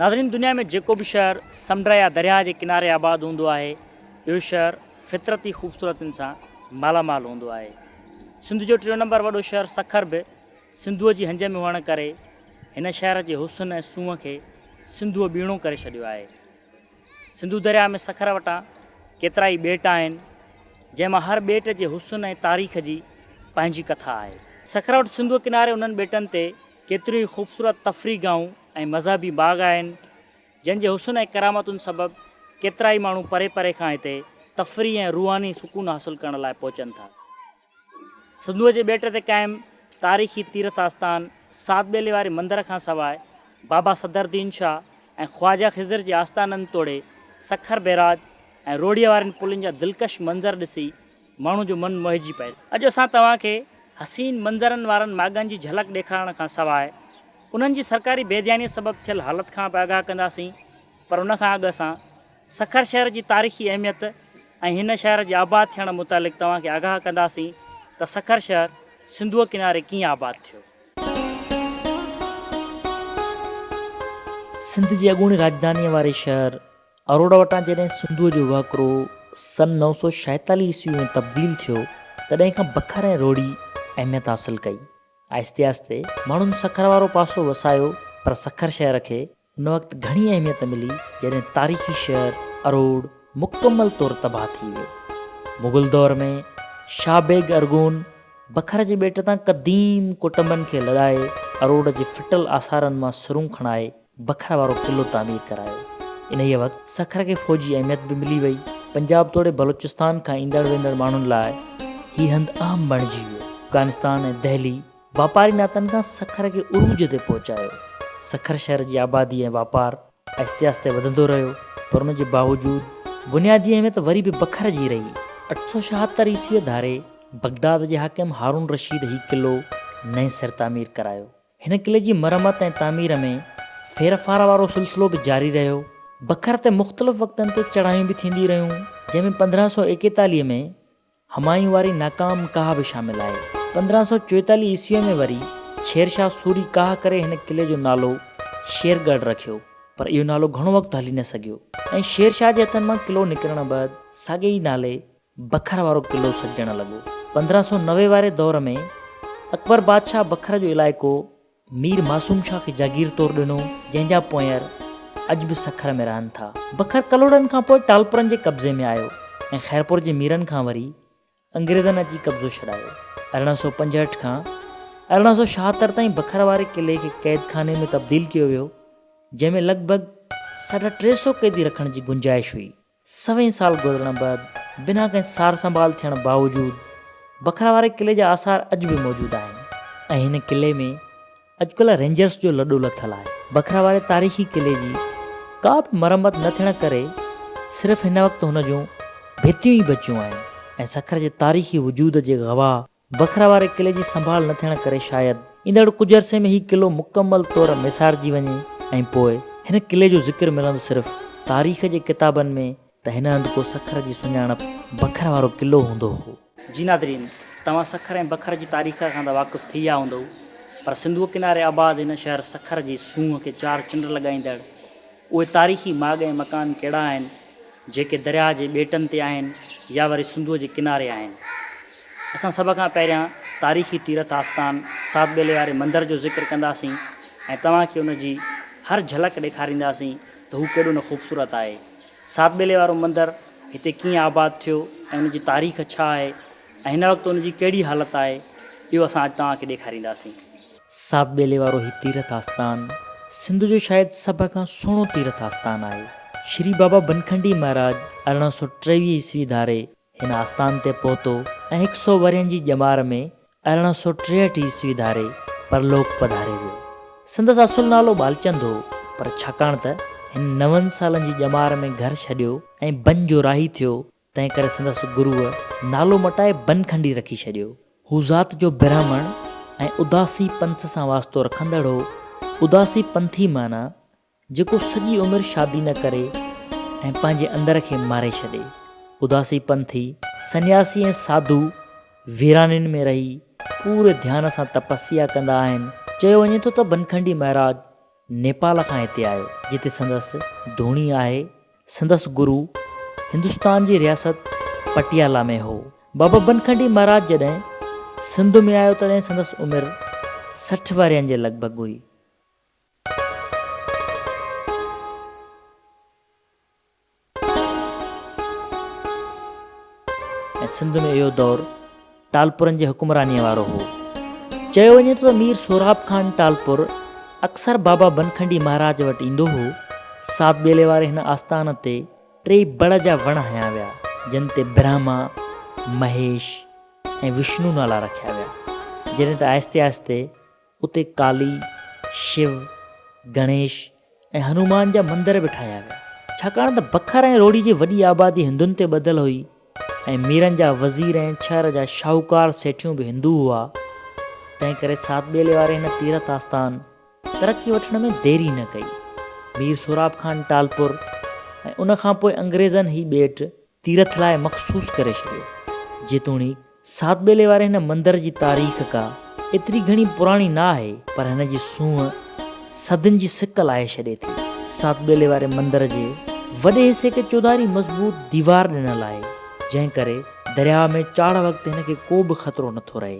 ناظرين دنيا ۾ جيڪو به شهر سمنڊ يا درياهه جي ڪناري آباد هوندو آهي اهو شهر فطرتي خوبصورتين سان مالا مال هوندو آهي سنڌ جو ٽيون نمبر وڏو شهر سکر به سنڌوء جي هنج ۾ هئڻ ڪري هن شهر جي حسن ۽ سونهن کي سنڌوء ٻيڻو ڪري ڇڏيو آهي سنڌو درياهه ۾ سکر وٽان ڪيترائي ٻيٽ آهن جنهن مان هر ٻيٽ جي حسن ۽ تاريخ جي پنهنجي ڪٿا آهي سکر وٽ سنڌوء ڪناري انهن ٻيٽن تي ڪيتريون ئي خوبصورت تفريح گاهون ۽ مذهبي باغ آهن، جن جي حسن ۽ ڪرامتن سبب ڪيترائي ماڻهو پري پري کان هتي تفريح ۽ روحاني سڪون حاصل ڪرڻ لاء پهچن ٿا. سنڌوء جي ٻيٽ تي قائم تاريخي تيرٿ آستان سات ٻيلي واري مندر کان سواء بابا صدرالدين شاهه ۽ خواجه خضر جي آستانن توڙي سکر بيراج ۽ روهڙيء وارين پلين جا دلڪش منظر ڏسي ماڻهن جو من موهيجي پئي ٿو. اڄ اسان توهان کي حسين منظرن وارن ماڳن جي جهلڪ ڏيکارڻ کان سواء انهن جي سرڪاري بي ڌيانيء سبب ٿيل حالت کان به آگاهه ڪنداسين پر ان کان اڳ اسان سکر شهر جي تاريخي اهميت ۽ هن شهر جي آباد ٿيڻ متعلق توهان کي آگاهه ڪنداسين ته سکر شهر سنڌوء ڪناري ڪيئن آباد ٿيو. سنڌ جي اڳوڻي راڄڌانيء واري شهر اروڙا وٽان جڏهن سنڌوء جو وهڪرو سن نو سؤ ڇاهيتاليهه عيسوي ۾ تبديل ٿيو، تڏهن کان بکر ۽ روهڙي اهميت حاصل ڪئي. آهستي آهستي ماڻهن سکر وارو پاسو وسايو، پر سکر شهر کي ان وقت گهڻي اهميت ملي، جڏهن تاريخي شهر اروڙ مڪمل طور تباهه ٿي ويو. مغل دور ۾ شاهه بيگ ارغون بکر جي ٻيٽ تان قديم ڪٽنبن کي لڏائي اروڙ جي ڦٽل آثارن مان سرون کڻائي بکر وارو قلعو تعمير ڪرايو. انهيء وقت سکر کي فوجي اهميت به ملي وئي. پنجاب توڙي بلوچستان کان ايندڙ ويندڙ ماڻهن لاء هي هنڌ اهم بڻجي ويو. افغانستان ۽ دهلي واپاري ناتن کان سکر کي عروج تي پهچايو. سکر شهر جي آبادي ۽ واپار آهستي آهستي وڌندو رهيو، پر ان جي باوجود بنيادي اهميت وري به بکر جي رهي. اٺ سؤ ڇاهتر عيسويء ڌاري بغداد جي حاڪم هارون رشيد هي قلعو نئين سر تعمير ڪرايو. هن قلعي جي مرمت ۽ تعمير ۾ ڦيرڦار وارو سلسلو به جاري رهيو. بکر تي مختلف وقتن تي چڙهايون به ٿينديون رهيون، جنهن ۾ پندرهن سؤ ايڪيتاليهه ۾ همايون واري ناڪام ڪاهه به شامل آهي. پندرهن سؤ چوئيتاليهه عيسويء ۾ وري شير شاهه سوري ڪاهه ڪري هن قلعي جو نالو شير ڳڙهه رکيو، پر اهو نالو گهڻو وقت هلي نه سگهيو ۽ شير شاهه جي هٿن مان قلعو نڪرڻ بعد ساڳئي نالي بکر وارو قلعو سڏجڻ لڳو. پندرهن سؤ نوي واري دور ۾ اڪبر بادشاهه بکر جو علائقو مير معصوم شاهه کي جاگير طور ڏنو، جنهن جا پونئر اڄ به سکر ۾ رهن ٿا. بکر ڪلهوڙن کان پوء ٽالپرن جي قبضي ۾ آيو ۽ خيرپور جي ميرن کان وري انگريزن اچي قبضو ڇڏايو. ارڙهن سؤ پنجهٺ کان ارڙهن سؤ ڇاهتر تائين بکر واري قلعي کي قيد خاني ۾ تبديل ڪيو ويو، جنهن ۾ لڳ ڀڳ ساڍا ٽي سؤ قيدي رکڻ جي گنجائش هئي. سوين سال گذرڻ بعد بنا ڪنهن سار سنڀال ٿيڻ باوجود بکرا واري قلعي جا آثار اڄ به موجود آهن ۽ هن قلعي ۾ اڄڪلهه رينجرس جو لڏو لٿل آهي. بکرا واري تاريخي قلعي جي ڪا به مرمت نه ٿيڻ ڪري صرف هن وقت هن جون ڀتيون ئي بچيون آهن ۽ سکر جي تاريخي وجود جي گواهه بکرا واري قلعي جي سنڀال نه ٿيڻ ڪري شايد ايندڙ ڪجهه عرصي ۾ هي قلعو مڪمل طور ميسارجي وڃي ۽ پوء هن قلعي جو ذڪر ملندو صرف تاريخ جي ڪتابن ۾ ته هن هنڌ ڪو سکر جي سڃاڻپ بکر وارو قلعو هوندو هو. جي ناظرين! توهان سکر ۽ بکر جي تاريخ کان ته واقف ٿي ويا هوندؤ پر سنڌوء ڪناري آباد هن شهر سکر جي سونهن کي چار چنڊ لڳائيندڙ اهي تاريخي ماڳ ۽ مڪان ڪهڙا آهن جيڪي درياهه جي ٻيٽن تي آهن يا وري سنڌوء جي ڪناري آهن؟ اسان سڀ کان پهريان تاريخي تيرٿ آستان ساڌ ٻيلي واري مندر جو ذڪر ڪنداسين ۽ توهان کي ان جي هر جهلڪ ڏيکارينداسين ته هو ڪيڏو نه خوبصورت آهي. ساڌ ٻيلي وارو مندر هتي ڪيئن آباد ٿيو ۽ ان جي تاريخ ڇا آهي ۽ هن وقت ان جي ڪهڙي حالت آهي اهو اسان اڄ توهان کي ڏيکارينداسين. ساڌ ٻيلي وارو هي تيرٿ آستان سنڌ جو شايد سڀ کان سهڻو تيرٿ آستان آهي. شري بابا بنکنڊي مهاراج ارڙهن سؤ ٽيويهه عيسوي ڌاري هن آستان تي پهتو ۽ هڪ سؤ ورهين جي ڄمار ۾ ارڙهن سؤ ٽيهٺ عيسوي ڌاري پرلوڪ پڌاري ويو. سندس اصل نالو ٻالچند هو پر ڇاڪاڻ ته هن نون سالن جي ڄمار ۾ گهر ڇڏيو ۽ بن جو راهي ٿيو تنهنڪري سندس گروء نالو مٽائي بن کنڊي رکي ڇڏيو. هو ذات جو برهمڻ ۽ اداسي پنٿ سان واسطو رکندڙ هو. اداسي پنٿي معنيٰ، جيڪو سڄي عمر شادي نه ڪري ۽ پنهنجي اندر کي ماري ڇڏي. اداسي پنٿي، سنياسي ۽ ساڌو، ويرانين ۾ رهي، پوري ڌيان سان تپسيا ڪندا آهن. چيو وڃي ٿو ته بنکنڊي مهراج نيپال کان هتي آيو، جتي سندس ڌوڻي آهي. سندس گرو هندستان جي رياست پٽيالا ۾ هو. بابا بنکنڊي مهاراج جڏهن سنڌ ۾ آيو تڏهن سندس عمر سٺ ورهين جي لڳ ڀڳ هئي. ۽ سنڌ ۾ اهو دور ٽالپرن جي حڪمرانيء وارو هو. چيو وڃي ٿو ته مير سهراب خان ٽالپر اڪثر بابا بنکنڊي مهاراج وٽ ايندو هو. ساڌ ٻيلي واري هن آستان تي ٽي بڙ جا وڻ هنيا ويا، جن تي برهما، مهيش ۽ وشنو نالا رکيا ويا. جڏهن ته آهستي آهستي اتي ڪالي، شو، گڻيش ۽ هنومان جا مندر به ٺاهيا ويا. ڇاڪاڻ ته بکر ۽ روهڙي جي وڏي آبادي هندن تي ٻڌل هئي ۽ ميرن جا وزير ۽ شهر جا شاهوڪار سيٺيون به هندو هئا، تنهن ڪري سات ٻيلي واري هن تيرٿ آستان ترقي وٺڻ ۾ ديري نه ڪئي. مير سهراب خان ٽالپر ۽ ان کانپوء انگريزن هي ٻيٽ تيرٿ لاء مخصوص ڪري ڇڏيو. جيتوڻيڪ سات ٻيلي واري هن مندر جي تاريخ ڪا ايتري گهڻي پراڻي نه آهي پر هن جي سونهن صدين جي سڪ لاهي ڇڏي ٿي. سات ٻيلي واري مندر جي وڏي حصي کي چوڌاري مضبوط ديوار ڏنل آهي جنهن ڪري درياهه ۾ چاڙهه وقت هن کي ڪو به خطرو نٿو رهي.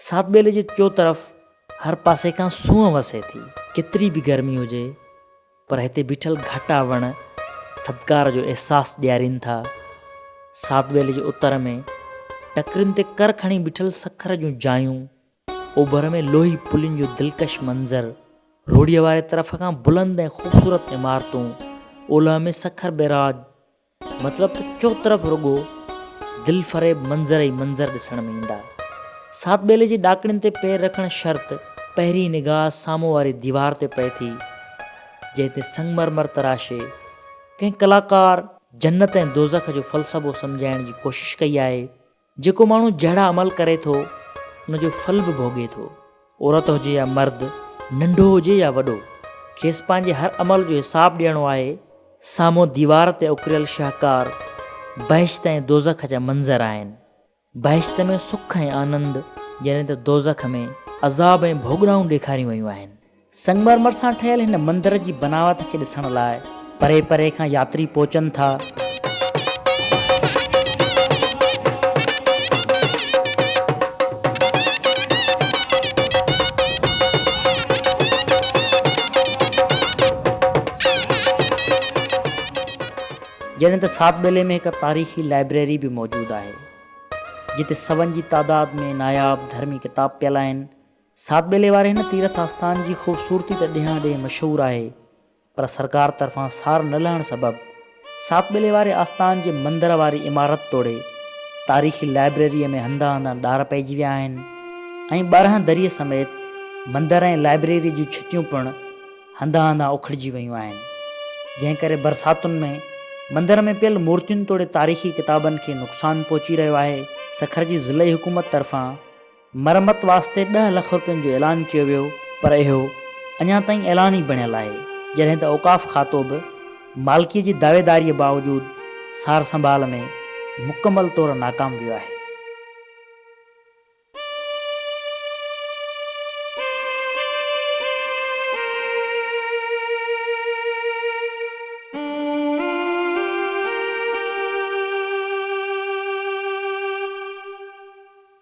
ساعت ٻيلي جي چوطرف هر پاسي کان سونهن وسي ٿي. ڪيتري به گرمي هجي پر هتي بيٺل گهاٽا وڻ ٿڌڪار جو احساس ڏيارين ٿا. ساعت ٻيلي جي اتر ۾ ٽڪرين تي ڪر کڻي بيٺل سکر جون جايون اوڀر ۾ لوهي پلين جو دلڪش منظر، روهڙيء واري طرف کان بلند ۽ خوبصورت عمارتون، اولهه ۾ سکر بئراج، مطلب ته چوطرف رڳو دلفريب منظر ئي منظر ڏسڻ ۾ ايندا. ساڌ ٻيلي جي ڏاڪڻين تي پير رکڻ شرط پهرين نگاهه سامهون واري ديوار تي پئي ٿي، جنهن تي سنگمرمر تراشي، ڪنهن ڪلاڪار جنت ۽ دوزخ جو فلسفو سمجهائڻ جي ڪوشش ڪئي آهي. جيڪو ماڻهو جهڙا عمل ڪري ٿو، ان جو ڦل به ڀوڳي ٿو. عورت هجي يا مرد، ننڍو هجي يا وڏو، کيس پنهنجي هر عمل جو حساب ڏيڻو آهي. سامهون ديوار تي اڪريل شهڪار بهشت ۽ دوزخ جا منظر آهن. بهشت ۾ سک ۽ آنند، جڏهن ته دوزخ ۾ عذاب ۽ ڀوڳنائون ڏيکاريون ويون آهن. سنگ مرمر سان ٺهيل هن مندر جي بناوت کي ڏسڻ لاء پري پري کان ياتري پهچن ٿا. جڏهن ته ساڌ ٻيلي ۾ هڪ تاريخي لائبريري به موجود آهي جتي سون جي تعداد ۾ ناياب ڌرمي ڪتاب پيل آهن. ساڌ ٻيلي واري هن تيرٿ آستان جي خوبصورتي ته ڏيهان ڏيهه مشهور آهي پر سرڪار طرفان سار نه لهڻ سبب ساڌ ٻيلي واري آستان جي مندر واري عمارت توڙي تاريخي لائبريري ۾ هنڌ هنڌان ڏار پئجي ويا آهن ۽ ٻارهن دريء سميت مندر ۽ لائبريري جون ڇتيون پڻ هنڌان هنڌان اکڙجي ويون آهن جنهن ڪري برساتن ۾ مندر ۾ پيل مورتين توڙي تاريخي ڪتابن کي نقصان پهچي رهيو آهي. سکر جي ضلعي حڪومت طرفان مرمت واسطي ڏهه لک رپين جو اعلان ڪيو ويو پر اهو اڃا تائين اعلان ئي بڻيل آهي جڏهن ته اوقاف کاتو به مالڪي جي دعويداري باوجود سار سنڀال ۾ مڪمل طور ناڪام ويو آهي.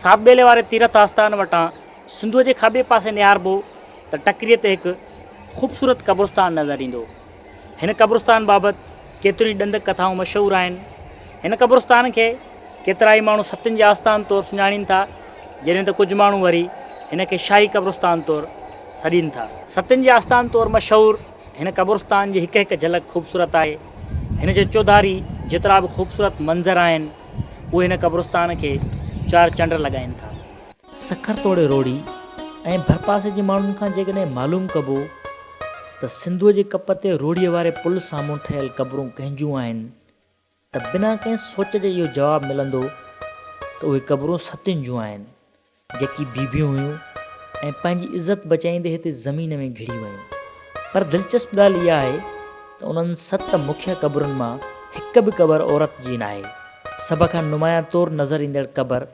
ساپ ٻيلي واري تيرٿ آستان وٽان سنڌوء جي کاٻي پاسي نهاربو ته ٽڪريء تي هڪ خوبصورت قبرستان نظر ايندو. هن قبرستان بابت ڪيتريون ئي ڏندڪ ڪٿائون مشهور آهن. هن قبرستان کي ڪيترائي ماڻهو ستين جي آستان طور سڃاڻين ٿا، جڏهن ته ڪجهه ماڻهو وري هن کي شاهي قبرستان طور سڏين ٿا. ستين جي آستان طور مشهور هن قبرستان جي هڪ هڪ جهلڪ خوبصورت آهي. هن جي چوڌاري جيترا به خوبصورت منظر آهن، اهي هن قبرستان کي چار چنڊ لڳائين ٿا. سکر توڙي روهڙي ۽ ڀرپاسي جي ماڻهن کان جيڪڏهن معلوم ڪبو ته سنڌوء جي ڪپ تي روهڙيء واري پل سامهون ٺهيل قبرون ڪنهن جون آهن ته بنا ڪنهن سوچ جي اهو جواب ملندو ته اهي قبرون ستين جون آهن جيڪي بيبيون هيون ۽ پنهنجي عزت بچائيندي هتي زمين ۾ گهڙي ويون. پر دلچسپ ڳالهه اها آهي ته انهن ست مکيه قبرن مان هڪ به قبر عورت جي ناهي. سڀ کان نمايان طور نظر ايندڙ قبر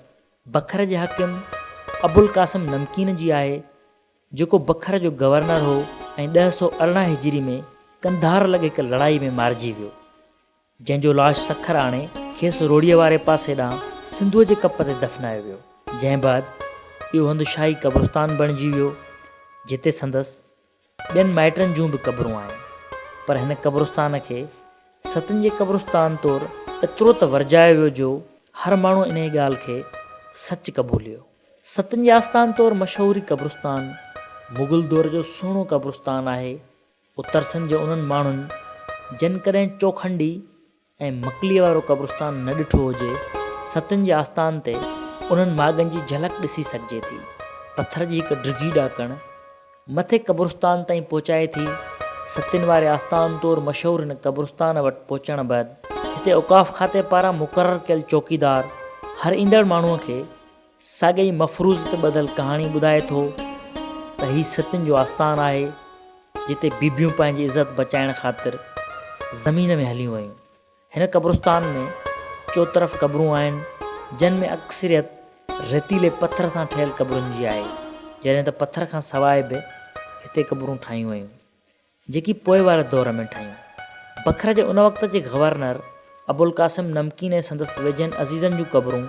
بکر جي حاڪم ابوالقاسم نمڪين جي آهي، جيڪو بکر جو گورنر هو ۽ ڏهه سؤ ارڙهن هجري ۾ قنڌار لڳ هڪ لڙائي ۾ مارجي ويو، جنهن جو لاش سکر آڻي کيس روهڙيء واري پاسي ڏانهن سنڌوء جي ڪپ تي دفنايو ويو، جنهن بعد اهو هنڌ شاهي قبرستان بڻجي ويو، جتي سندس ٻين مائٽن جون به قبرون آهن پر هن قبرستان کي ستن جي قبرستان طور ايترو ته ورجايو ويو جو هر ماڻهو انهيء ڳالهه کي سچ قبوليو. ستن جي آستان طور مشهوري قبرستان مغل دور جو سهڻو قبرستان آهي. اترسن جي انهن ماڻهن جن ڪڏهن چوکنڊي، ۽ مڪليء وارو قبرستان نه ڏٺو هجي، ستين جي آستان تي انهن ماڳن جي جهلڪ ڏسي سگهجي ٿي. پٿر جي هڪ ڊگهي ڏاڪڻ، مٿي قبرستان تائين پهچائي ٿي. ستين واري آستان طور مشهور هن قبرستان وٽ پهچڻ بعد هتي اوقاف کاتي پاران مقرر ڪيل چوڪيدار هر ايندڙ ماڻهوء کي، ساڳئي مفروض تي ٻڌل ڪهاڻي ٻڌائي ٿو ته هي ستين جو آستان آهي، جتي بيبيون پنهنجي عزت بچائڻ خاطر زمين ۾ هليون ويون. هن قبرستان ۾ چوطرف قبرون آهن، جن ۾ اڪثريت ريتيلي پٿر سان ٺهيل قبرن جي آهي، جڏهن ته پٿر کان سواء به هتي قبرون ٺاهيون ويون. جيڪي پوء واري دور ۾ ٺهيون. بکر جي ان وقت جي گورنر ابوالقاسم نمڪين ۽ سندس ويجهن عزيزن جون قبرون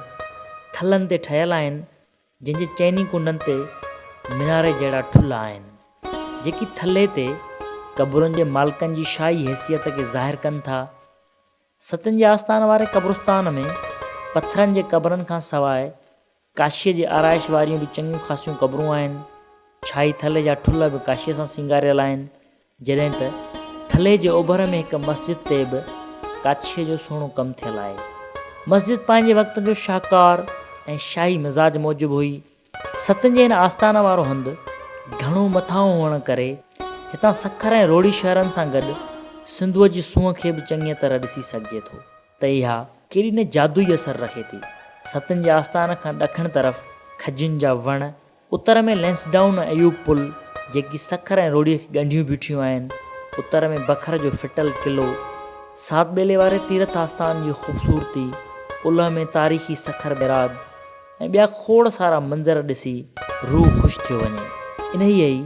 ٿلهن تي ٺهيل آهن، جن جي چئني ڪنڊن تي ميناري جهڙا ٺلهه آهن، جيڪي ٿلهي تي قبرن جي مالڪن جي شاهي حيثيت کي ظاهر ڪن ٿا. ستين جي آستان واري قبرستان ۾ پٿرن جي قبرن کان سواء ڪاشيء جي آرائش واريون به چڱيون خاصيون قبرون آهن. ڇائي ٿلهي جا ٺلهه به ڪاشيء سان سينگاريل آهن. جڏهن ته ٿلهي جي اوڀر ۾ هڪ مسجد تي به ڪاڇيء جو سهڻو ڪم ٿيل آهي. مسجد پنهنجي وقت جو شاهڪار ۽ شاهي مزاج موجب هئي. ستن جي هن آستان وارو هنڌ گهڻو مٿانهون هئڻ ڪري هتان سکر ۽ روهڙي شهرن سان گڏ سنڌوء جي سونهن کي به چڱيء طرح ڏسي سگهجي ٿو. ته اها ڪهڙي نه جادوئي اثر رکي ٿي. ستن جي آستان کان ڏکڻ طرف کجين جا وڻ، اتر ۾ لئنسڊائون ۽ ايوب پل، جيڪي سکر ۽ روهڙيء کي ڳنڍيون بيٺيون آهن، اتر ۾ بکر جو ڦٽل قلعو، سات ٻيلي واري تيرٿ آستان جي خوبصورتي، اولهه ۾ تاريخي سکر بئراج ۽ ٻيا کوڙ سارا منظر ڏسي روح خوش ٿيو وڃي. انهيء ئي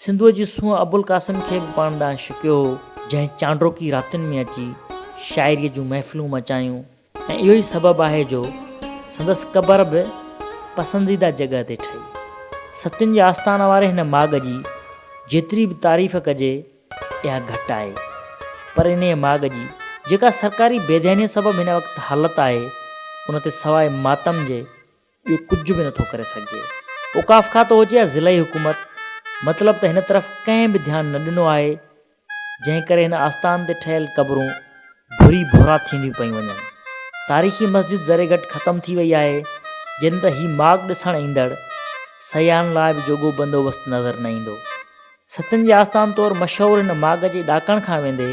سنڌوء جي سونهن ابوالقاسم کي به پاڻ ڏانهن شڪيو هو، جنهن چانڊوڪي راتين ۾ اچي شاعريء جون محفلون مچايون ۽ اهو ئي سبب آهي جو سندس قبر به پسنديده جڳهه تي ٺهي. ستين جي آستان واري هن ماڳ جي جيتري به تعريف ڪجي اها گهٽ آهي، پر انهيء ماڳ جي جيڪا سرڪاري بيڌيانيء سبب هن وقت حالت آهي، ان تي سواء ماتم جي، ٻيو ڪجهه به نٿو ڪري سگهجي. اوقاف کاتو هجي يا ضلعي حڪومت مطلب ته هن طرف ڪنهن به ڌيان نه ڏنو آهي جنهن ڪري هن آستان تي ٺهيل قبرون ڀري ڀورا ٿينديون پيون وڃن. تاريخي مسجد ذري گهٽ ختم ٿي وئي آهي جڏهن ته هي ماڳ ڏسڻ ايندڙ سياحن لاء به جوڳو بندوبست نظر نه ايندو. ستين جي آستان طور مشهور هن ماڳ جي ڏاڪڻ کان ويندي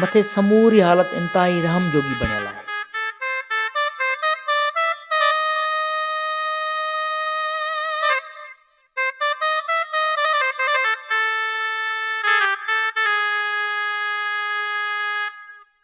مٿي سموري حالت انتهائي رحم جوڳي بڻيل آهي.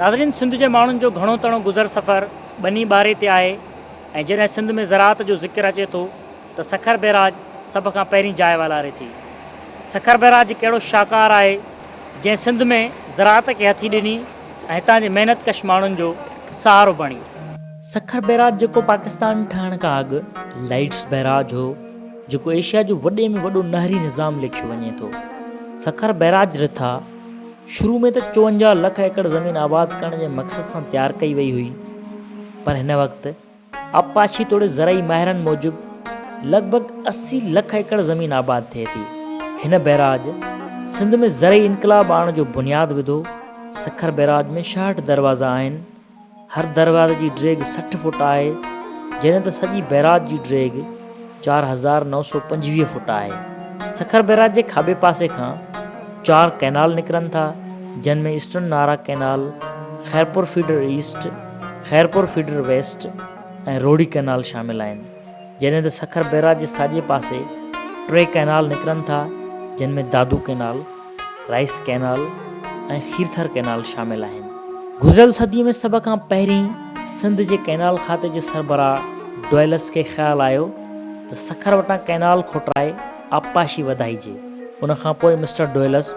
ناظرين سنڌ جي ماڻهن جو گهڻو تڻو گذر سفر ٻني ٻاري تي آهي ۽ جڏهن سنڌ ۾ زراعت جو ذڪر اچي ٿو ته سکر بئراج سڀ کان پهرين جاء والاري ٿي. سکر بئراج هڪ اهڙو شاهڪار آهي جنهن سنڌ ۾ زراعت کي هٿي ڏني ۽ هتان جي محنت ڪش ماڻهن جو سهارو بڻي. سکر بئراج جيڪو پاڪستان ٺهڻ کان اڳ لائيڊس بئراج هو جيڪو ايشيا جو وڏي ۾ وڏو نهري نظام ليکيو وڃي ٿو. سکر بئراج رٿا. شروع ۾ ته چونجاهه لک ايڪڙ زمين آباد ڪرڻ جي مقصد سان تيار ڪئي وئي هئي پر هن وقت آبپاشي توڙي زرعي ماهرن موجب لڳ ڀڳ اسي لک ايڪڙ زمين آباد ٿئي ٿي. هن بئراج سنڌ ۾ زرعي انقلاب آڻڻ جو بنياد وڌو، سکر بئراج ۾ شاهٺ دروازا آهن، هر دروازي جي ڊيگهه سٺ فوٽ آهي، جڏهن ته سڄي بئراج جي ڊيگهه چار هزار نو سؤ پنجويهه فوٽ آهي. سکر بئراج جي کاٻي پاسي کان چار ڪئنال نڪرن ٿا، جن ۾ eastern Nara canal, Khairpur feeder east, Khairpur feeder west ۽ Rohri canal شامل آهن. جڏهن ته سکر بئراج جي ساڄي پاسي ٽي ڪئنال نڪرن ٿا جن ۾ Dadu canal, rice canal ۽ Kirthar canal شامل آهن. گذريل صدي ۾ سڀ کان پهرين سنڌ جي ڪئنال کاتي جي سربراهه ڊوئلس کي خيال آيو ته سکر وٽان ڪئنال کوٽرائي آبپاشي وڌائجي. ان کانپوء مسٽر ڊوئلس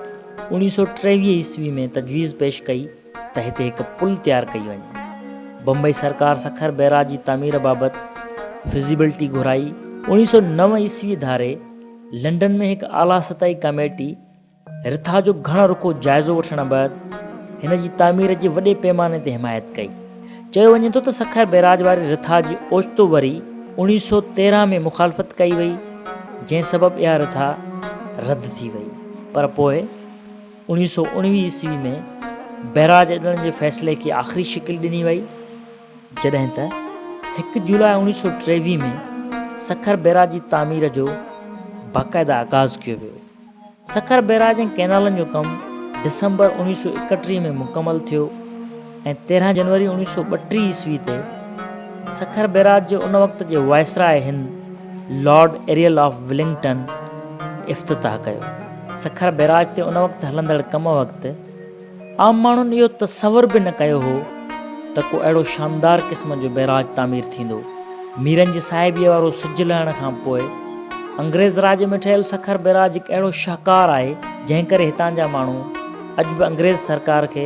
اوڻيهه سؤ ٽيويهه عيسوي ۾ تجويز پيش ڪئي ته هتي هڪ پل تيار ڪئي وڃي. بمبئي سرڪار سکر بئراج جي تعمير بابت فزيبلٽي گهرائي. اڻيهه سؤ نو عيسوي ڌاري لنڊن ۾ هڪ اعليٰ سطحي ڪاميٽي رٿا جو گهڻ رخو جائزو وٺڻ بعد هن جي تعمير جي وڏي پيماني تي حمايت ڪئي. چيو وڃي ٿو ته سکر بئراج واري رٿا جي اوچتو وري اڻيهه سؤ تيرهن ۾ مخالفت ڪئي وئي جنهن سبب اها رٿا رد ٿي وئي پر پوء اڻيهه سؤ اڻويهه عيسوي ۾ بئراج اڏڻ جي فيصلي کي آخري شڪل ڏني وئي، جڏهن ته هڪ جولاء اڻيهه سؤ ٽيويهه ۾ سکر بئراج جي تعمير جو باقاعده آغاز ڪيو ويو. سکر بئراج ۽ ڪئنالن جو ڪم ڊسمبر اڻيهه سؤ ايڪٽيهه ۾ مڪمل ٿيو. ۽ تيرهن جنوري اوڻيهه سؤ ٻٽيهه عيسوي تي سکر بئراج جي ان وقت جي وائسراء هند لارڊ ايريل آف ولنگٽن افتتاح ڪيو. سکر بئراج تي ان وقت هلندڙ ڪم وقت عام ماڻهن اهو تصور به نه ڪيو هو ته ڪو اهڙو شاندار قسم جو بئراج تعمير ٿيندو. ميرن جي صاحبيء وارو سج لهڻ کان پوء انگريز راڄ ۾ ٺهيل سکر بئراج هڪ اهڙو شاهڪار آهي جنهن ڪري هتان جا ماڻهو اڄ به انگريز سرڪار کي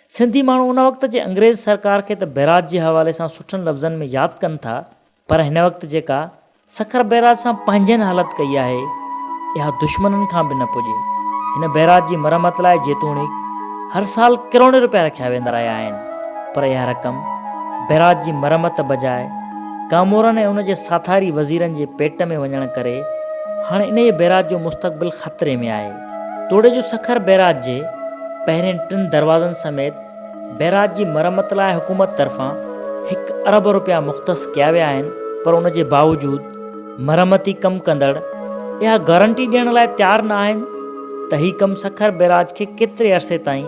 سنڌي ماڻهو ان وقت جي انگريز سرڪار کي ته بئراج جي حوالي سان سٺن لفظن ۾ ياد ڪن ٿا پر هن وقت جيڪا سکر بئراج سان پنهنجن حالت ڪئي آهي اها دشمنن کان به نه پڄي. هن بئراج جي مرمت لاء جيتوڻيڪ هر سال ڪروڙين رپيا رکيا ويندا رهيا آهن پر اها رقم بئراج جي مرمت بجاء ڪامورن ۽ ان جي ساٿاري وزيرن جي پيٽ ۾ وڃڻ ڪري هاڻي انهيء بئراج جو مستقبل خطري ۾ آهي. توڙي جو سکر بئراج جي پهرين ٽن دروازن سميت بئراج جي مرمت لاء حڪومت طرفان هڪ ارب رپيا مختص ڪيا ويا آهن پر ان جي باوجود مرمتي ڪم ڪندڙ اها گارنٽي ڏيڻ لاء تيار نه آهن ته هي ڪم سکر بئراج کي ڪيتري عرصي تائين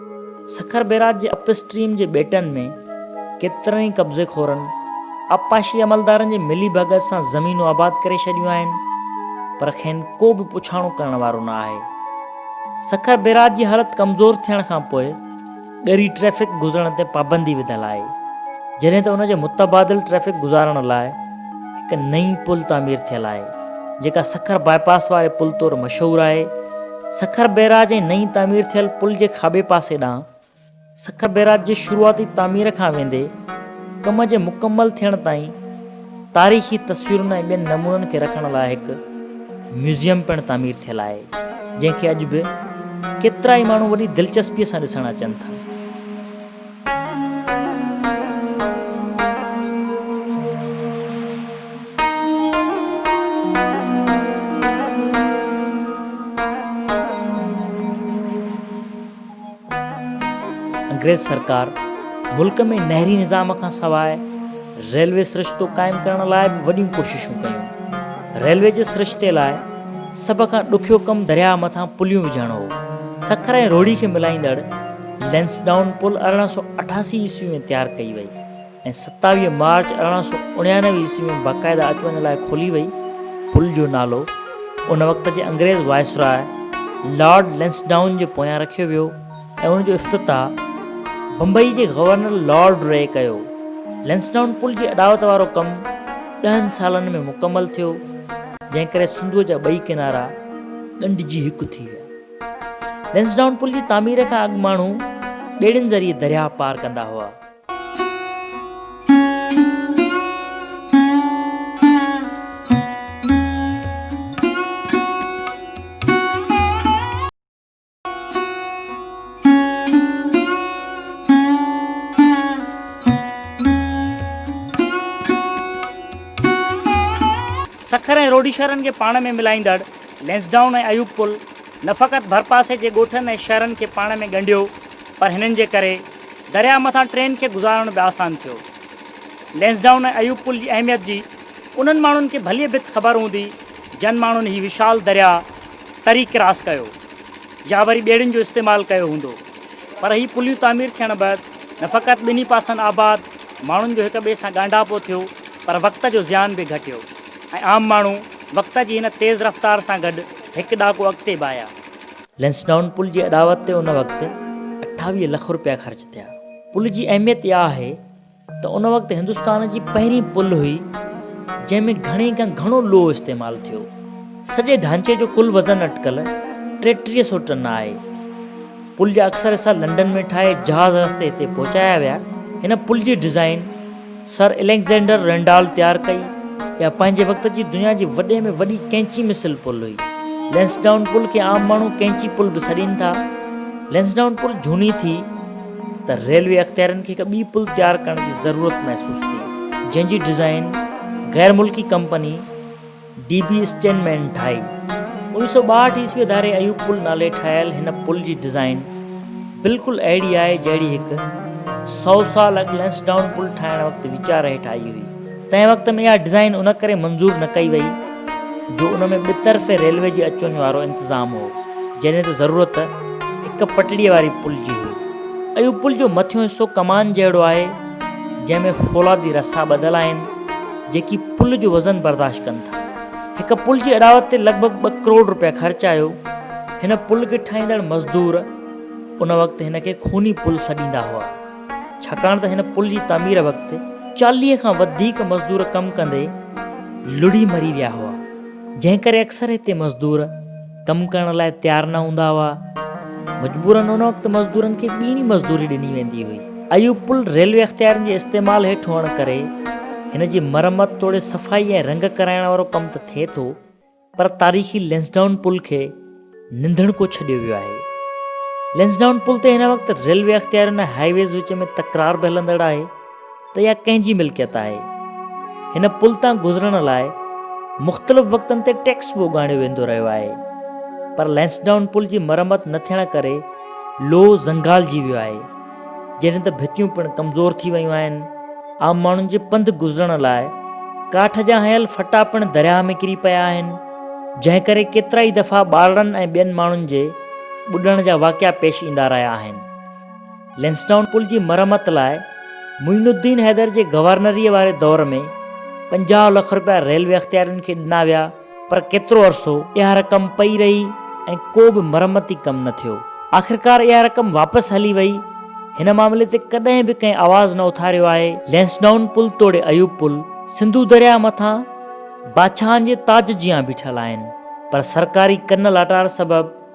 سکر بيراج جي اپ اسٽريم جي ٻيٽن ۾ ڪيترن ئي قبضي خورن آبپاشي عملدارن جي ملي ڀڳت سان زمينون آباد ڪري ڇڏيون آهن پر کين ڪو به پڇاڻو ڪرڻ وارو نه آهي. سکر بيراج جي حالت ڪمزور ٿيڻ کان پوء ڳري ٽريفڪ گذرڻ تي پابندي وڌل آهي جڏهن ته ان جي متبادل ٽريفڪ گذارڻ لاء هڪ نئين پل تعمير ٿيل آهي، جيڪا سکر باء پاس واري پل طور مشهور آهي. سکر بئراج ۽ نئين تعمير ٿيل پل جي کاٻي پاسي ڏانهن سکر بئراج جي شروعاتي تعمير کان ويندي ڪم جي مڪمل ٿيڻ تائين تاريخي تصويرن ۽ ٻين نمونن کي رکڻ لاء هڪ ميوزيم پڻ تعمير ٿيل آهي، جنهن کي اڄ به ڪيترائي ماڻهو وڏي دلچسپيء سان ڏسڻ اچن ٿا. انگريز سرڪار ملڪ ۾ نهري نظام کان سواء ريلوي سرشتو قائم ڪرڻ لاء به وڏيون ڪوششون ڪيون. ريلوي جي سرشتي لاء سڀ کان ڏکيو ڪم درياهه مٿان پليون وجهڻ هو. سکر ۽ روهڙي کي ملائيندڙ لئنسڊائون پل ارڙهن سؤ اٺاسي عيسوي ۾ تيار ڪئي وئي ۽ ستاويهه مارچ ارڙهن سؤ اڻيانوي عيسوي ۾ باقاعده اچ وڃ لاء کولي وئي. پل جو نالو ان وقت جي انگريز وائسراء لارڊ لئنسڊائون جي پويان رکيو ويو. ۽ ان جو افتتاح بمبئي جي گورنر لارڊ ري ڪيو. لئنسڊائون پل جي اڏاوت وارو ڪم ڏهن سالن ۾ مڪمل ٿيو، جنهن ڪري سنڌوء جا ٻئي ڪنارا ڳنڍجي هڪ ٿي ويا. لئنسڊائون پل جي تعمير کان اڳ ماڻهو ٻيڙين ذريعي درياهه پار ڪندا هئا. سکر ۽ روڊيشهرن کي پاڻ ۾ ملائيندڙ لئنسڊائون ۽ ايوب پل نه فقط ڀرپاسي جي ڳوٺن ۽ شهرن کي پاڻ ۾ ڳنڍيو پر هنن جي ڪري درياهه مٿان ٽرين کي گذارڻ به آسان ٿيو. لئنسڊائون ۽ ايوب پل جي اهميت جي انهن ماڻهن کي ڀليء ڀت خبر هوندي جن ماڻهن هي وشال درياهه تري ڪراس ڪيو يا وري ٻيڙين جو استعمال ڪيو هوندو پر هي پليون تعمير ٿيڻ بعد نه فقط ٻنهي پاسن آباد ماڻهن جو هڪ ٻئي سان ڳانڍاپو ٿيو پر وقت جو زيان به گهٽيو ۽ عام ماڻهو وقت جي هن تيز رفتار سان گڏ هڪ ڏهاڪو اڳتي به آيا. لئنسڊائون پل جي اڏاوت تي ان وقت اٺاويهه لک روپيا خرچ ٿيا. پل جي اهميت اها آهي ته ان وقت هندستان جي پهرين پل هئي جنهن ۾ گهڻي کان گهڻو لوهه استعمال ٿيو. سڄي ڍانچي جو ڪل وزن اٽڪل ٽيٽيهه سؤ ٽن آهي. پل جا اڪثر حصا لنڊن ۾ ٺاهي جهاز رستي هتي پهچايا ويا. هن پل جي ڊزائين سر اليگزينڊر رينڊال تيار ڪئي. اها پنهنجي وقت جي دنيا جي وڏي ۾ وڏي ڪئنچي مثل پل هئي. لينسڊائون پل کي عام ماڻهو ڪئنچي پل به سڏين ٿا. لينسڊائون پل جهوني ٿي. ته ريلوي اختيارين کي هڪ ٻي پل تيار ڪرڻ جي ضرورت محسوس ٿي جنهن جي ڊزائين غير ملڪي ڪمپني ڊي بي اسٽين مين ٺاهي انيس سو ٻاهٺ عيسوي اداري ايوب پل نالي ٺاهيل هن پل جي ڊزائين بلڪل اهڙي آهي جهڙي هڪ سؤ سال اڳ لينسڊائون پل ٺاهڻ وقت ويچار هيٺ آئي هئي تنهن وقت ۾ اها ڊزائين ان ڪري منظور نه ڪئي وئي جو ان ۾ ٻه طرفي ريلوي جي اچ وڃ وارو انتظام هو جڏهن ته ضرورت هڪ پٽڙيء واري پل جي هئي. اهو پل جو مٿيون حصو ڪمان جهڙو آهي جنهن ۾ فولادي رسا ٻڌل آهن جيڪي پل جو وزن برداشت ڪن ٿا. هڪ پل جي اڏاوت تي لڳ ڀڳ ٻه ڪروڙ رپيا خرچ آيو. هن پل کي ٺاهيندڙ مزدور ان وقت هن کي خوني پل سڏيندا هئا. ڇاڪاڻ ته هن پل جي تعمير وقت چاليهه کان وڌيڪ مزدور ڪم ڪندي لڙهي مري ويا هئا، جنهن ڪري اڪثر هتي مزدور ڪم ڪرڻ لاء تيار نه هوندا هئا. مجبورن ان وقت مزدورن کي ٻيڻي مزدوري ڏني ويندي هئي. اهو پل ريلوي اختيارين جي استعمال هيٺ هئڻ ڪري هن جي مرمت توڙي صفائي ۽ رنگ ڪرائڻ وارو ڪم ته ٿئي ٿو، پر تاريخي لينسڊائون پل کي ننڌڻڪو ڇڏيو ويو آهي. لينسڊائون پل تي هن وقت ريلوي اختيارين ۽ هاء ويز وچ ۾ تڪرار به هلندڙ آهي ته يا ڪنهن جي ملڪيت آهي. هن پل تان گذرڻ لاء مختلف وقتن تي ٽيڪس به اڳاڻيو ويندو رهيو آهي پر لينسڊائون پل جي مرمت نه ٿيڻ ڪري لوهه زنگالجي ويو آهي. جڏهن ته ڀتيون پڻ ڪمزور ٿي ويون آهن. عام ماڻهن جي پنڌ گذرڻ لاء ڪاٺ جا هنيل ڦٽا پڻ درياهه ۾ ڪري پيا آهن، جنهن ڪري ڪيترائي دفعا ٻارڙن ۽ ٻين ماڻهن جي ٻڏڻ جا واقعا پيش ايندا رهيا آهن. لينسڊائون پل جي مرمت لاء معين الدين حيدر جي گورنريء واري دور ۾ پنجاهه لک رپيا ريلوي اختيارين کي ڏنا ويا. پر ڪيترو عرصو اها رقم پئي رهي ۽ ڪو به مرمتي ڪم نه ٿيو. آخرڪار اها رقم واپس هلي وئي. هن معاملي تي ڪڏهن به ڪنهن آواز نه اٿاريو آهي. لئنسڊائون پل توڙي ايوب پل سنڌو درياهه مٿان بادشاهن جي تاج جيان بيٺل آهن پر سرڪاري ڪن لاٽار سبب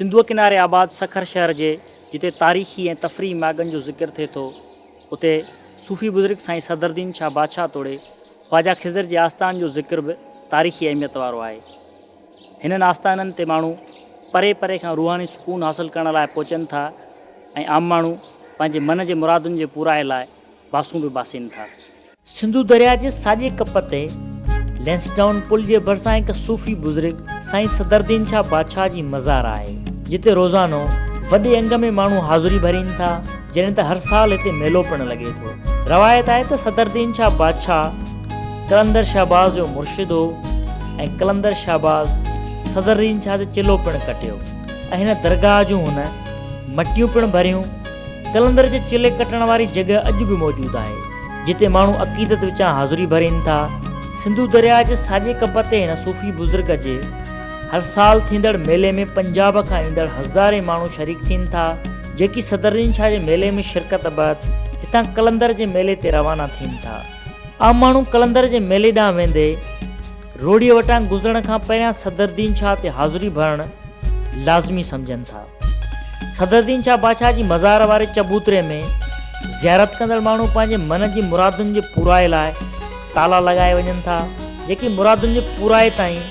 سنڌوء ڪناري آباد سکر شهر جي جتي تاريخي ۽ تفريحي ماڳن جو ذڪر ٿئي ٿو، اتي صوفي بزرگ سائين صدرالدين شاهه بادشاهه توڙي خواجه خضر جي آستان جو ذڪر به تاريخي اهميت وارو آهي. هنن آستانن تي ماڻهو پري پري کان روحاني سڪون حاصل ڪرڻ لاء پهچن ٿا ۽ عام ماڻهو پنهنجي من جي مرادن جي پورائي لاء باسون به باسين ٿا. سنڌو درياء جي ساڄي ڪپ تي لئنسڊائون پل جي ڀرسان هڪ صوفي بزرگ سائين صدردين شاهه بادشاهه جي مزار آهي، جتي روزانو وڏي انگ ۾ ماڻهو حاضري ڀرين ٿا، جڏهن ته هر سال هتي ميلو پڻ لڳي ٿو. روايت آهي ته صدردين شاهه بادشاهه. قلندر شهباز جو مرشد هو ۽ قلندر شهباز صدر رين شاهه تي چلو پڻ ڪٽيو ۽ هن درگاهه جون هن مٽيون پڻ ڀريون. قلندر جي چلي ڪٽڻ واري جڳهه اڄ به موجود آهي، جتي ماڻهو عقيدت وچان حاضري ڀرين ٿا. سنڌو درياهه جي ساڄي ڪپ تي هن صوفي بزرگ جي هر سال ٿيندڙ ميلي ۾ پنجاب کان ايندڙ هزارين ماڻهو شريڪ ٿين ٿا، جيڪي صدر رين شاهه جي ميلي ۾ شرڪت بعد هتان قلندر جي ميلي تي روانا ٿين ٿا. عام ماڻهو قلندر جي ميلي ڏانهن ويندي روهڙيء وٽان گذرڻ کان پهريان صدرالدين شاهه تي حاضري ڀرڻ لازمي سمجهن ٿا. صدرالدين شاهه بادشاهه جي مزار واري چبوتري ۾ زيارت ڪندڙ ماڻهو پنهنجي من جي مرادن جي پورائي لاء تالا لڳائي وڃن ٿا، جيڪي مرادن جي پورائي تائين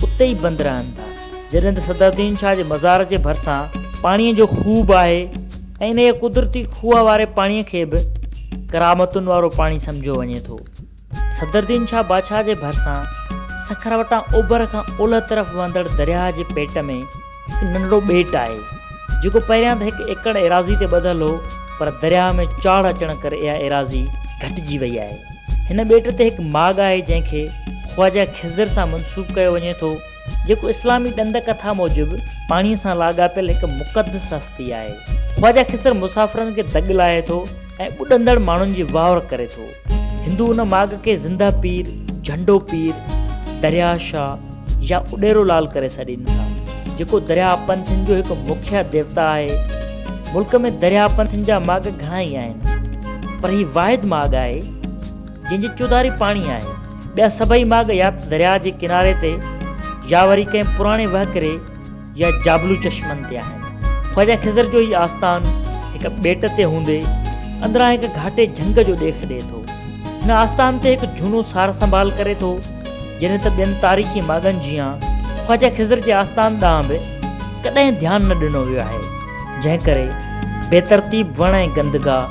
اتي ئي بند رهن ٿا. جڏهن ته صدرالدين شاهه جي مزار جي ڀرسان پاڻيء جو خوهه به آهي. ۽ انهيء قدرتي کوهه واري پاڻيء کي به ڪرامتن وارو پاڻي سمجهيو وڃي ٿو. صدرالدين شاهه بادشاهه جي ڀرسان سکر وٽان اوڀر کان اولهه طرف وهندڙ درياهه جي پيٽ ۾ هڪ ننڍڙو ٻيٽ آهي، جيڪو پهريان ته هڪ ايڪڙ ايراضي تي ٻڌل هو، پر درياهه ۾ چاڙهه اچڻ ڪري اها ايراضي گهٽجي وئي آهي. هن ٻيٽ تي هڪ ماڳ آهي، جنهن کي خواجه خضر سان منسوب ڪيو وڃي ٿو. جيڪو اسلامي ڏند ڪٿا موجب پاڻي سان لاڳاپيل هڪ مقدس هستي آهي. خواجه خضر مسافرن کي دڳ لاهي ٿو ۽ ٻڏندڙ ماڻهن جي واهور ڪري ٿو. هندو ان ماڳ کي زنده پير، جهنڊو پير، درياهه شاهه يا اڏيرو لال ڪري سڏين ٿا، جيڪو درياهه پنٿين جو هڪ مکيه ديوتا آهي. ملڪ ۾ درياهه پنٿين جا ماڳ گهڻا ئي آهن، پر هي واحد ماڳ آهي، جنهن جي چوڌاري پاڻي آهي. ٻيا سڀئي ماڳ يا ته درياء جي ڪناري تي يا وري ڪنهن پراڻي وهڪري يا جابلو چشمن تي آهن. خواجه خضر جو هي آستان هڪ ٻيٽ تي هوندي اندران هڪ گهاٽي جهنگ جو ڏيک ڏئي ٿو. هن آستان تي هڪ جهونو سار سنڀال ڪري ٿو، جڏهن ته ٻين تاريخي ماڳن جيان خواجه خضر جي آستان ڏانهن به ڪڏهن ڌيان نه ڏنو ويو آهي، جنهن ڪري بيترتيب وڻ ۽ گندگاهه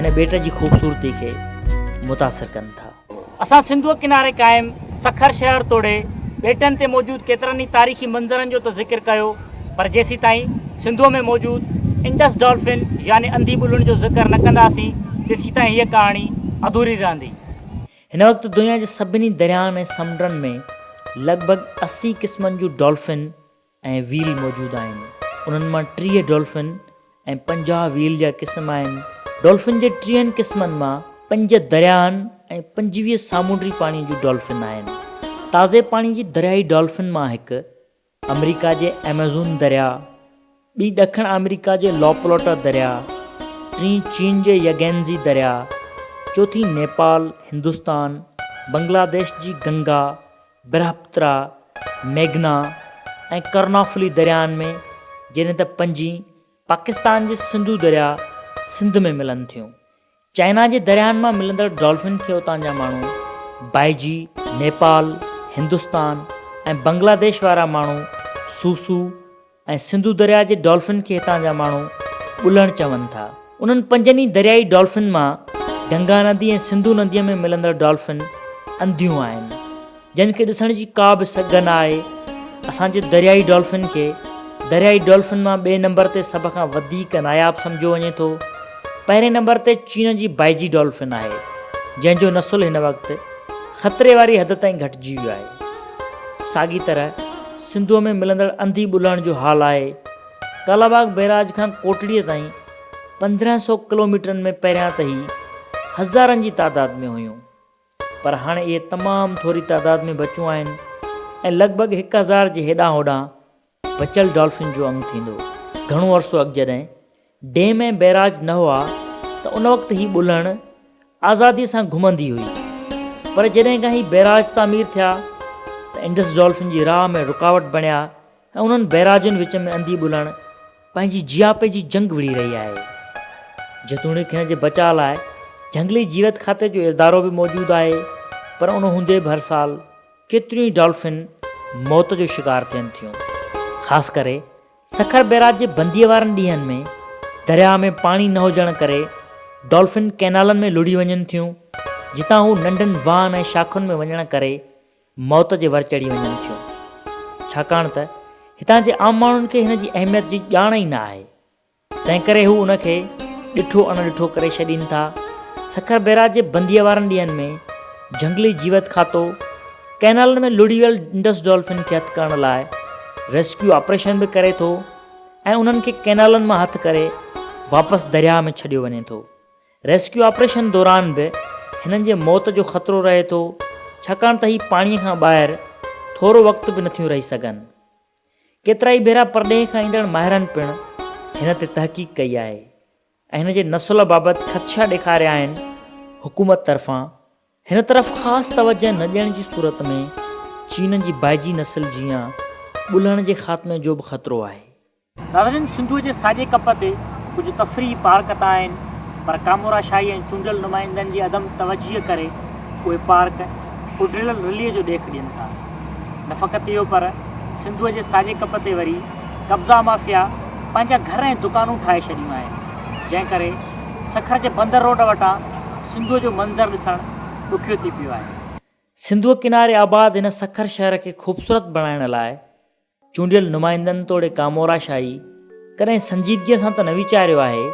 هن ٻيٽ جي خوبصورتي کي متاثر ڪن ٿا. اسان سنڌوء ڪناري قائم سکر شهر توڙي ٻيٽن تي موجود ڪيترن ئي تاريخي منظرن جو ته ذڪر ڪيو پر جيسيتائين سنڌوء ۾ موجود انڊس ڊالفن يعني انڌي ٻلهن جو ذڪر نه ڪنداسين تيسيتائين هيء ڪهاڻي اڌوري رهندي. هن وقت دنيا جي سڀني درياهن ۽ سمنڊن ۾ لڳ ڀڳ اسي قسمن جون ڊالفن، ۽ ويل موجود آهن. انهن مان ٽيهه ڊولفن ۽ پنجاهه ويل جا قسم آهن. ڊولفن جي ٽيهن قسمن مان پنج درياهن ۽ پنجويهه سامونڊي پاڻي جون ڊولفن آهن. تازي پاڻي جي درياهي ڊولفن مان هڪ آمريڪا جي ايمازون درياهه، ٻي ڏکڻ آمريڪا جي لا پلوٽا درياهه، ٽين چين جي يگينزي درياهه، چوٿين نيپال، هندستان، بنگلاديش جي گنگا برهپترا، ميگهنا ۽ ڪرنافلي درياهن ۾ جڏهن ته پنجين پاڪستان جي سنڌو درياهه سنڌ ۾ ملن ٿيون. چائنا جي درياهن مان ملندڙ ڊالفن کي اتان جا ماڻهو بائجي، نيپال، هندستان ۽ بنگلاديش وارا ماڻهو سوسو، ۽ سنڌو درياء جي ڊولفن کي هتان جا ماڻهو ٻلهڻ چون ٿا. انهن پنجن ئي دريائي ڊولفن مان گنگا ندي ۽ سنڌو نديء ۾ ملندڙ ڊولفن انڌيون آهن، جن کي ڏسڻ جي ڪا به سگهه نه آهي. اسان جي دريائي ڊولفن کي دريائي ڊولفن مان ٻئي نمبر تي سڀ کان وڌيڪ ناياب سمجهيو وڃي ٿو. پهرئين نمبر تي چين جي بائجي ڊولفن آهي، جنهن جو نسل هن وقت خطري واري حد تائين گهٽجي ويو آهي. ساڳي طرح سنڌوء ۾ ملندڙ انڌي ٻلهڻ جو حال آهي. ڪالا باغ بئراج کان ڪوٽڙيء تائين پندرهن سئو ڪلوميٽرن ۾ پهريان ته هي هزارن جي تعداد ۾ هيون پر هاڻي اهي تمام ٿوري تعداد ۾ بچون آهن ۽ لڳ ڀڳ هڪ هزار جي هيڏانهن هوڏانهن بچل ڊالفن جو انگ ٿيندو. گهڻو عرصو اڳ جڏهن ڊيم ۽ بئراج نه هئا ته ان وقت هي ٻلهڻ آزادي سان گهمندي هئي پر جڏهن کان هي بئراج تعمير ٿيا ته انڊس ڊولفن جي راهه ۾ رڪاوٽ بڻيا ۽ انهن بئراجن وچ ۾ انڌي ٻلهڻ پنهنجي جياپي جي جنگ وڙهي رهي آهي جيتوڻيڪ هن جي بچاء لاء جهنگلي جيوت کاتي جو ادارو به موجود آهي پر ان هوندي به هر سال ڪيتريون ئي ڊولفن موت جو شڪار ٿين ٿيون خاص ڪري سکر بيراج جي بنديء وارن ڏينهن ۾ درياهه ۾ پاڻي نه هجڻ ڪري ڊولفن ڪئنالن ۾ لڙهي وڃن ٿيون، جتان هو ننڍن واهن ۽ شاخن ۾ وڃڻ ڪري موت جي ور چڙهي وڃن ٿيون، ڇاڪاڻ ته هتان جي عام ماڻهن کي هن جي اهميت جي ڄاڻ ئي نه آهي، تنهنڪري هو ان کي ڏٺو اڻ ڏٺو ڪري ڇڏين ٿا، سکر بيراج جي بنديء وارن ڏينهن ۾ جهنگلي جيوت کاتو، ڪئنالن ۾ لڙهي ويل انڊس ڊولفن کي هٿ ڪرڻ لاء ريسڪيو آپريشن به ڪري ٿو ۽ انهن کي ڪئنالن مان هٿ ڪري واپس درياهه ۾ ڇڏيو وڃي ٿو. ريسڪيو آپريشن دوران به هنن جي موت جو خطرو رهي ٿو ڇاڪاڻ ته هي پاڻي کان ٻاهر ٿورو وقت به نٿيون رهي سگهن. ڪيترائي ڀيرا پرڏيهه کان ايندڙ ماهرن پڻ هن تي تحقيق ڪئي آهي. ۽ هن جي نسل بابت خدشا ڏيکاريا آهن، حڪومت طرفان هن طرف خاص توجهه نه ڏيڻ جي صورت ۾ چينن جي بائجي نسل جيان ٻلهڻ جي خاتمي جو به خطرو آهي. ناظرين سنڌوء جي ساڄي ڪپ تي ڪجهه تفريحي پارڪ ته آهن پر ڪامورا شاهي ۽ چونڊيل نمائندن جي عدم توجهي ڪري اهي پارڪ اڏريل رلي جو ڏيک ڏين ٿا نه فقط اهو پر سنڌوء جي ساڄي ڪپ تي وري قبضا مافيا پنهنجا گهر ۽ دڪانون ٺاهي ڇڏيون آهن، جنهن ڪري سکر جي بندر روڊ وٽان سنڌوء جو منظر ڏسڻ ڏکيو ٿي پيو آهي. سنڌوء ڪناري آباد هن سکر شهر کي خوبصورت بڻائڻ لاء چونڊيل نمائندن توڙي ڪامورا شاهي ڪڏهن سنجيدگيء سان ته نه ويچاريو آهي،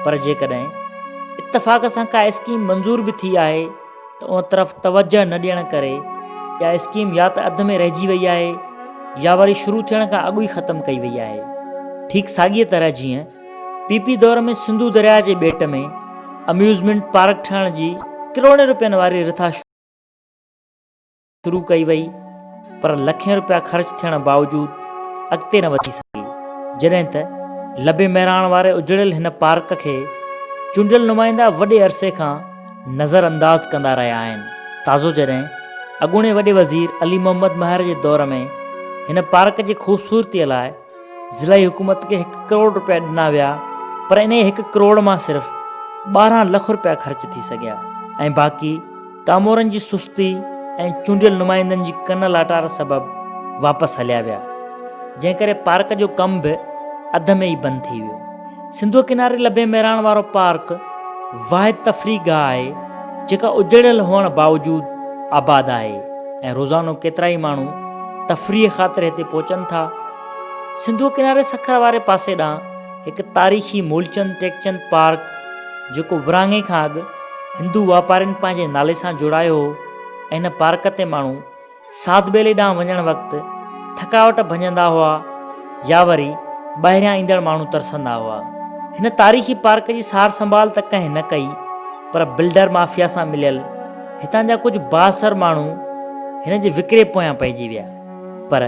پر جيڪڏهن اتفاق سان ڪا اسڪيم منظور به ٿي آهي، ته ان طرف توجهه نه ڏيڻ ڪري اها اسڪيم يا ته اڌ ۾ رهجي وئي آهي يا وري شروع ٿيڻ کان اڳ ئي ختم ڪئي وئي آهي. ٺيڪ ساڳيء طرح جيئن پي پي دور ۾ سنڌو درياء جي ٻيٽ ۾ اميوزمينٽ پارڪ ٺهڻ جي ڪروڙين روپين واري رٿا شروع شروع ڪئي وئي پر لکين روپيا خرچ ٿيڻ باوجود اڳتي نه وڌي سگهي جڏهن ته لبي مهراڻ واري اجڙيل هن پارڪ کي چونڊيل نمائندا وڏي عرصي کان نظر انداز ڪندا رهيا آهن تازو جڏهن اڳوڻي وڏي وزير علي محمد مهر جي دور ۾ هن پارڪ جي خوبصورتي لاء ضلعي حڪومت کي هڪ ڪروڙ رپيا ڏنا ويا پر انهي هڪ ڪروڙ مان صرف ٻارهن لک رپيا خرچ ٿي سگهيا ۽ باقي ڪامورن جي سستي ۽ چونڊيل نمائندن جي ڪن لاٽار سبب واپس هليا ويا جنهن ڪري پارڪ جو ڪم به اڌ ۾ ئي بند ٿي ويو. سنڌوء ڪناري لبين ميراڻ وارو پارڪ واحد تفريح گاهه آهي جيڪا اجڙيل هئڻ باوجود آباد آهي ۽ روزانو ڪيترائي ماڻهو تفريح خاطر هتي پهچن ٿا. سنڌوء ڪناري سکر واري پاسي ڏانهن هڪ تاريخي مولچند ٽيڪچند پارڪ جيڪو ورهاڱي کان اڳ هندو واپارين پنهنجي نالي سان جوڙايو هو ۽ هن پارڪ تي ماڻهو ساڌ ٻيلي ڏانهن وڃڻ وقت ٿڪاوٽ ڀڃندا هئا يا وري ٻاهريان ايندڙ ماڻهو ترسندا هئا. هن تاريخي پارڪ جي سار سنڀال ته ڪنهن نه ڪئي پر بلڊر مافيا سان مليل هتان جا ڪجهه بااثر ماڻهو هن جي وڪري پويان پئجي ويا پر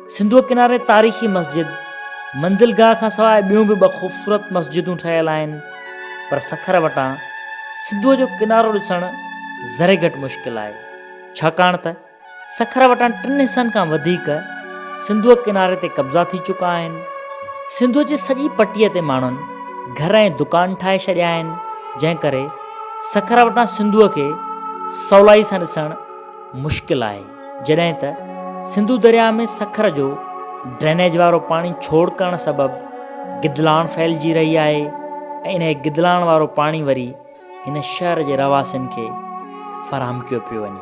سنڌوء ڪناري تاريخي مسجد منزل گاهه کان سواء ٻيون به ٻه خوبصورت مسجدون ٺهيل آهن، پر سکر وٽان سنڌوء جو ڪنارو ڏسڻ ذري گهٽ مشڪل آهي، ڇاڪاڻ ته سکر وٽان ٽن حصن کان وڌيڪ سنڌوء ڪناري تي قبضا ٿي چڪا آهن. سنڌوء جي سڄي پٽيء تي ماڻهن گهر ۽ دڪان ٺاهي ڇڏيا آهن، جنهن ڪري سکر وٽان سنڌوء کي سولائي سان ڏسڻ مشڪل آهي. جڏهن ته سنڌو درياهه ۾ سکر جو ڊرينيج وارو پاڻي ڇوڙ ڪرڻ سبب گدلاڻ ڦهلجي رهي آهي ۽ انهيء گدلاڻ وارو پاڻي وري هن شهر جي رهواسين کي فراهم ڪيو پيو وڃي.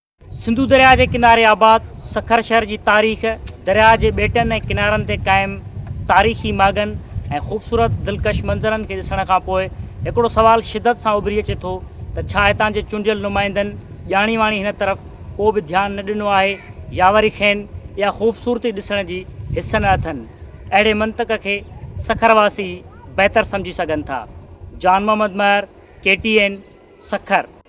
سنڌو درياء جي ڪناري آباد سکر شهر جي تاريخ، درياء جي ٻيٽن ۽ ڪنارن تي قائم تاريخي ماڳن ۽ خوبصورت دلڪش منظرن کي ڏسڻ کان پوء هڪڙو سوال شدت سان اڀري اچي ٿو ته ڇا هتان جي چونڊيل نمائندن ڄاڻي واڻي هن طرف ڪو به ڌيان نه ڏنو آهي يا وري کين اها خوبصورتي ڏسڻ جي حس نه اٿن؟ اهڙي منطق کي سکر واسي ئي بهتر سمجهي سگهن ٿا. Jan Muhammad Mahar, K T N, Sukkur.